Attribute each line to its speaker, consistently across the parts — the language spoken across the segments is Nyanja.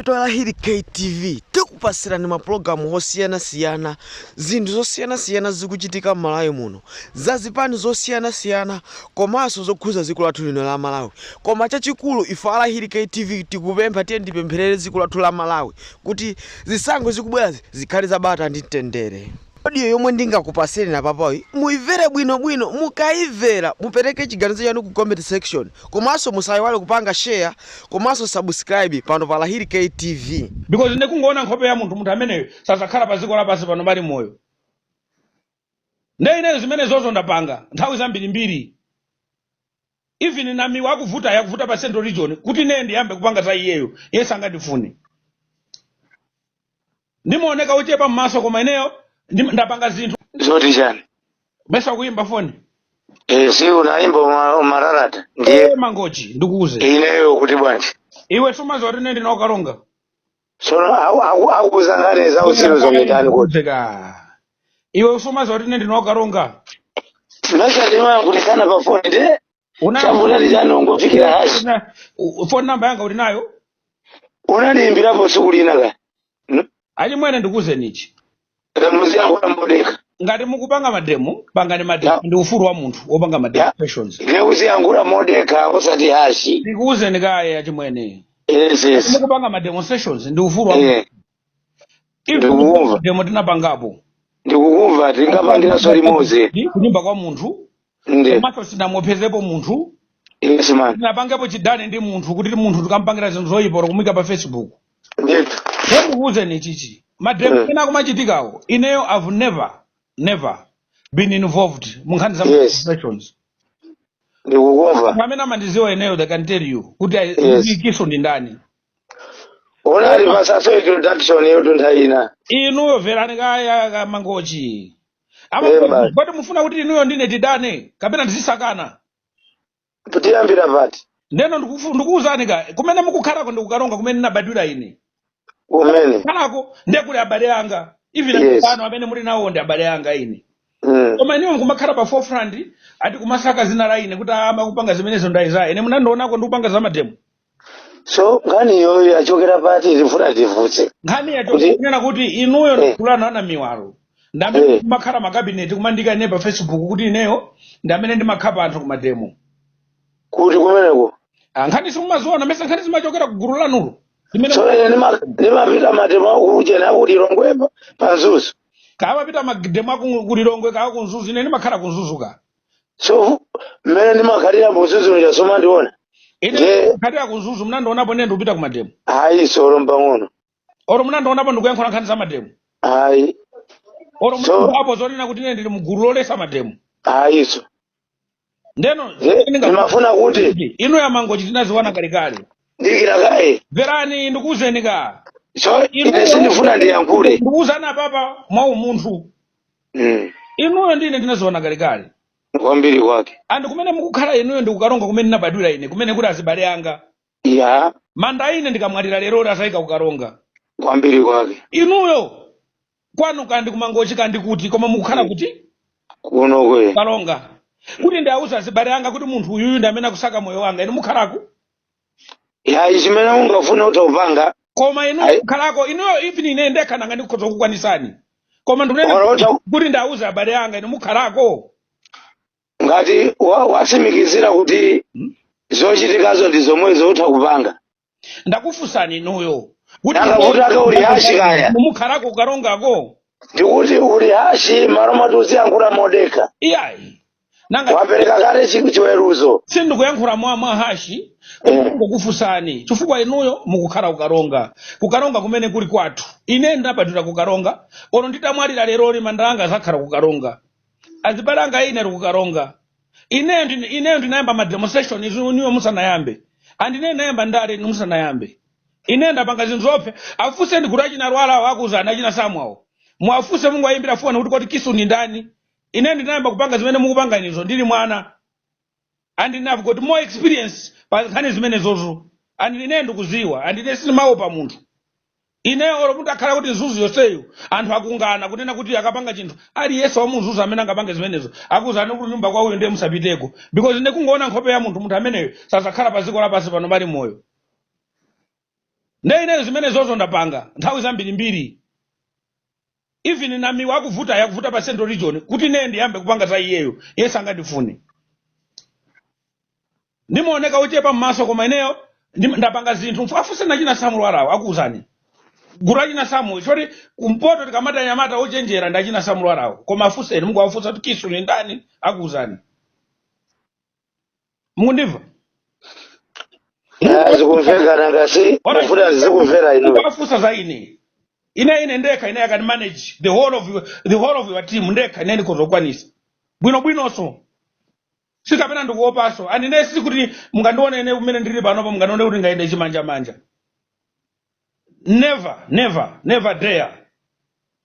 Speaker 1: Ife Alahiri KTV tikupasirani mapulogalamu osiyanasiyana zinthu zosiyanasiyana zikuchitika m'malawi muno za zipani zosiyanasiyana komanso zokhuza dziko lathu lino la malawi koma chachikulu ife Alahiri KTV tikupempha tiye tipempherere dziko lathu la malawi kuti zisankho zikubwerazi zikhale za bata ndi mtendere Audio yomwe ndingakupasireni apapayi muimvere bwinobwino mukaimvera mupereke chiganizo chanu ku comment section komanso musaiwale kupanga share komanso subscribe pano pa Alahiri KTV. Because ndikungoona
Speaker 2: nkhope ya munthu munthu ameneyo sadzakhala pa dziko lapansi pano ali moyo nde ineyo zimenezozo ndapanga nthawi zambirimbiri even namiwa akuvutayo akuvuta pa central region kuti ineyo ndiyambe kupanga za iyeyo iye sangandifune ndimaoneka wochepa mmaso koma ineyo ndim- ndapanga zinthu zoti
Speaker 3: chani mesa
Speaker 2: kuyimba foni Eh,
Speaker 3: si unayimba uma- umararata ndiye e mangochi ndikuuze
Speaker 2: ineyo kuti bwanji
Speaker 3: iwe sumaziwa kuti
Speaker 2: ine ndili ku Karonga
Speaker 3: tsono aku- aku- akuuza nkhani za uzimu zometani kuti
Speaker 2: kudzeka iwe sumaziwa kuti ine ndili ku
Speaker 3: Karonga timachatima kutisana pafoni nde una chambulali chani ungofikira hashi una- u- phone
Speaker 2: number yanga uli nayo unandiimbirapo
Speaker 3: tsiku lina ka N-
Speaker 2: achimwene ndikuuzeni chi
Speaker 3: muziyankhula modekha ngati
Speaker 2: mukupanga mademo pangani mademo Ya. ndi ufulu wa munthu kupanga Ya. mademonstrations ndiye uziyankhula
Speaker 3: modekha osati hashi ndikuwuzeni kaye
Speaker 2: achimwene yes yes
Speaker 3: mukupanga
Speaker 2: mademonstrations ndi ufulu wa munthu eh
Speaker 3: Even ndikukumva demo tinapangapo
Speaker 2: ndikukumva
Speaker 3: tinapangiranso limodzi kunyumba kwa munthu
Speaker 2: Ndithu. komanso sinamopsezepo munthu Yes
Speaker 3: man. sinapangepo chidani
Speaker 2: ndi munthu kuti munthu tikampangire zinthu zoyipa olo kumuika pa
Speaker 3: facebook Ndithu. ndikuuzeni
Speaker 2: chichi mademo Mm. ena akumachitikawo ineyo i've never never been involved mu nkhani za Yes. demonstrations
Speaker 3: Ndikukumva. pamene
Speaker 2: amandiziwa ineyo they can tell you kuti Yes. ndikiso ndi
Speaker 3: ndani Munandipasaso introduction yanutu nthawi ina. inuyo mverani
Speaker 2: kaye a Mangochi amakuwa Amen. kuti kodi mufuna kuti inuyo ndine tidane kapena
Speaker 3: tizisakana tiyambira pati ndeno ndikufu-
Speaker 2: ndikuwuzani ka kumene mukukhalako ndi ku Karonga kumene ndinabadwira ine kumene
Speaker 3: mukukhalako
Speaker 2: ndiye kuli abale anga even Yes. angopano amene muli nawo ndi abale anga ine Mm. koma inuyo nkumakhala pa forefront ati kumasaka zina la ine kuti amene akupanga zimenezo ndi Isaiah ine munandionako ndikupanga za mademo
Speaker 3: so nkhani iyiyo yachokera pati tifuna tifunse nkhani yacho kuti
Speaker 2: kunena kuti inuyo eh, ndi gulu lanu ana miwalo ndi amene eh, kumakhala makabineti kumandiika ine pa facebook kuti ineyo ndi amene ndimakhapa anthu kumademo
Speaker 3: kuti kumeneko Ah, nkhani
Speaker 2: simumaziona mesa nkhani zimachokera ku gulu lanulo lomwelo so ine
Speaker 3: ndima- ndimapita mademo akuchena aku Lilongwe pa Mzuzu kawa pita
Speaker 2: mademo akulilongwe kawa ku Mzuzu ine ndimakhala ku Mzuzu ka
Speaker 3: so mmene ndimakhalira mu Mzuzu ija simmandiona ine ndikhalira
Speaker 2: ku Mzuzu munandionapo ine ndikupita ku mademo ayi solo
Speaker 3: mpang'ono olo munandionapo
Speaker 2: ndikuyankhula nkhani za mademo ayi
Speaker 3: olo
Speaker 2: so munandionapo zonena kuti ine ndili mgulu loletsa mademo ayiso ndeno nde zimene ndingafuna
Speaker 3: ndimafuna kuti kuti inu a Mangochi
Speaker 2: tinaziwana kalekale dikira kaye
Speaker 3: mverani ndikuuzeni
Speaker 2: ka so ine inuyo
Speaker 3: sindifuna ndiyankhule ndikuuzani apapa
Speaker 2: mwa umunthu mm. inuyo ndi ine tinaziwana kalekale kwambiri
Speaker 3: kwake and kumene
Speaker 2: mukukhala inuyo ndi kukaronga kumene ndinabadwira ine kumene kuli azibale anga
Speaker 3: manda ine
Speaker 2: ndikamwalira lero oti azayika kukaronga kwambiri
Speaker 3: kwake
Speaker 2: inuyo kwanu kandi kumangochi kandi kuti koma mukukhala kuti kuno
Speaker 3: kwa Karonga
Speaker 2: kuti ndiauza azibale anga kuti munthu uyuyu ndi amene akusaka moyo wanga inu mukhalaku
Speaker 3: yayi chimene ungafune utha kupanga koma inuyo
Speaker 2: Ayi. mukhalako inuyo even ine ndekha nanga ndikhoza kukwanisani koma ndikunena Ora uta- kuti ndiauza abale anga inu mukhalako
Speaker 3: ngati wa- watsimikizira kuti zochitikazo ndi zomwezo utha kupanga
Speaker 2: ndakufunsani inuyo kuti Nanga kuti
Speaker 3: ake uli hashi kaya. mukhalako kukarongako
Speaker 2: ndikuti
Speaker 3: uli hashi malo malo moti uziyankhula modekha iyayi
Speaker 2: nanga
Speaker 3: wapereka kale chi- chiweruzo sindikuyankhula
Speaker 2: mwa mwa hashi koma Mm. ndikukufunsani chifukwa inuyo mukukhala kukaronga kukaronga kumene kuli kwathu ine ndabadwira kukaronga olo nditamwalira lero manda anga azakhala kukaronga azibale anga ine ali kukaronga ineyo ndine- ineyo ndinayamba ma demonstration izo inuyo musanayambe and ineyo ndinayamba ndale inu musanayambe ine ndapanga zinthu zoopsa afunseni kuti achina Lwara akuuzani achina Samuel awo mwafunse mungowayimbira foni kuti koti kisu ni ndani ine ndinayamba kupanga zimene mukupanga inuzo ndili mwana and ine I've got more experience pa nkhani zimenezozo and ine ndikuziwa and ine sindimaopa munthu ine olo mutakhala kuti Mzuzu yonseyo anthu akumana kunena kuti akapanga chinthu aliyense wa mu Mzuzu amene angapange zimenezo akuuzani kuti nyumba kwa uyo ndiye musapiteko because ine kungoona nkhope ya munthu munthu ameneyo sazakhala pa dziko lapansi pano ali moyo nde ineyo zimenezozo ndapanga nthawi zambirimbiri Even namiwa akuvutayo akuvuta pa central region kuti ineyo ndiyambe kupanga za iyeyo iye sangandifune ndimaoneka wochepa mmaso koma ineyo ndim- ndapanga zinthu Mfu- afunseni achina Samuel Lwarawo akuuzani gulu lachina samuel poti kumpoto tikamati anyamata ochenjera ndi achina Samuel Lwarawo koma afunseni mungowafunsa kuti kisu ni ndani akuuzani mukundimva
Speaker 3: Eh, zikumveka nanga si Alright. mufuna tizikumverani inu mukafunsa za ine
Speaker 2: ine ine ndekha ine i can manage the whole of your, the whole of your team ndekha ine ndikhoza kukwanisa bwino bwinonso sikapena ndikuopanso and ine sikuti mungandione ine kumene ndili panopo mungandione kuti ndingayende chimanjamanja never never never dare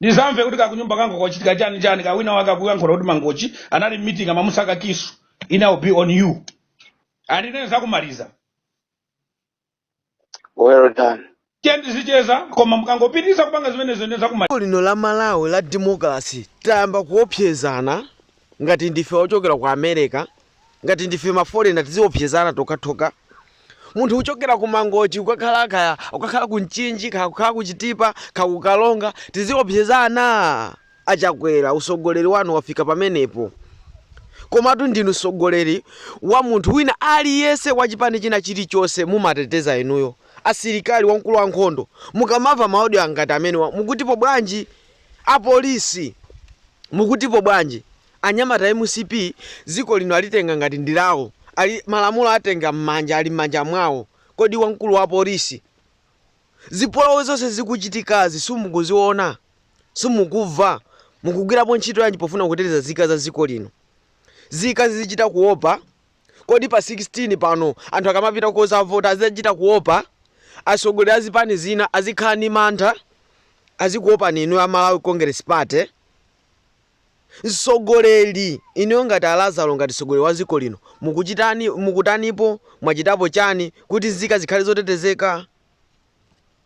Speaker 2: ndizamve kuti kakunyumba kangochitika chani chani ka wina wake akuyankhula kuti mangochi anali mmitingi amamusaka kisu ine will be on you and ine ndizakumaliza
Speaker 3: well done tiye
Speaker 2: tizicheza koma mukangopitiriza kupanga zimenezo ine ndizakumaliza dziko lino la malawi
Speaker 1: la democracy tayamba kuopsezana ngati ndife ochokera ku america ngati ndife mafolena tiziopsezana tokhatokha munthu uchokera ku mangochi ukakhala kaya ukakhala ku mchinji kaya ukhala ku chitipa kaya ku kalonga tiziopsezana achakwera usogoleri wanu wafika pamenepo komatu ndinu mtsogoleri wa munthu wina aliyense wa chipani china chilichonse mumateteza inuyo asilikali wamkulu wa nkhondo mukamamva ma audio angati amenewo mukutipo bwanji apolisi mukutipo bwanji Anyamata a mcp dziko lino alitenga ngati ndi lawo ali malamulo atenga mmanja ali mmanja mwawo kodi wamkulu wa polisi zipolowe zonse zikuchitikazi simukuziona simukuva mukugwirapo ntchito yanji pofuna kuteteza zika za dziko lino zika zizichita kuopa kodi pa 16 pano anthu akamapita kozavota azichita kuopa atsogoleri a zipani zina azikhala ndi mantha azikuopani inuyo a Malawi Congress Party. Mtsogoleri, inuyo ngati a Lazaro ngati mtsogoleri wa dziko lino mukuchitani, mukutanipo, mwachitapo chani kuti nzika zikhale zotetezeka?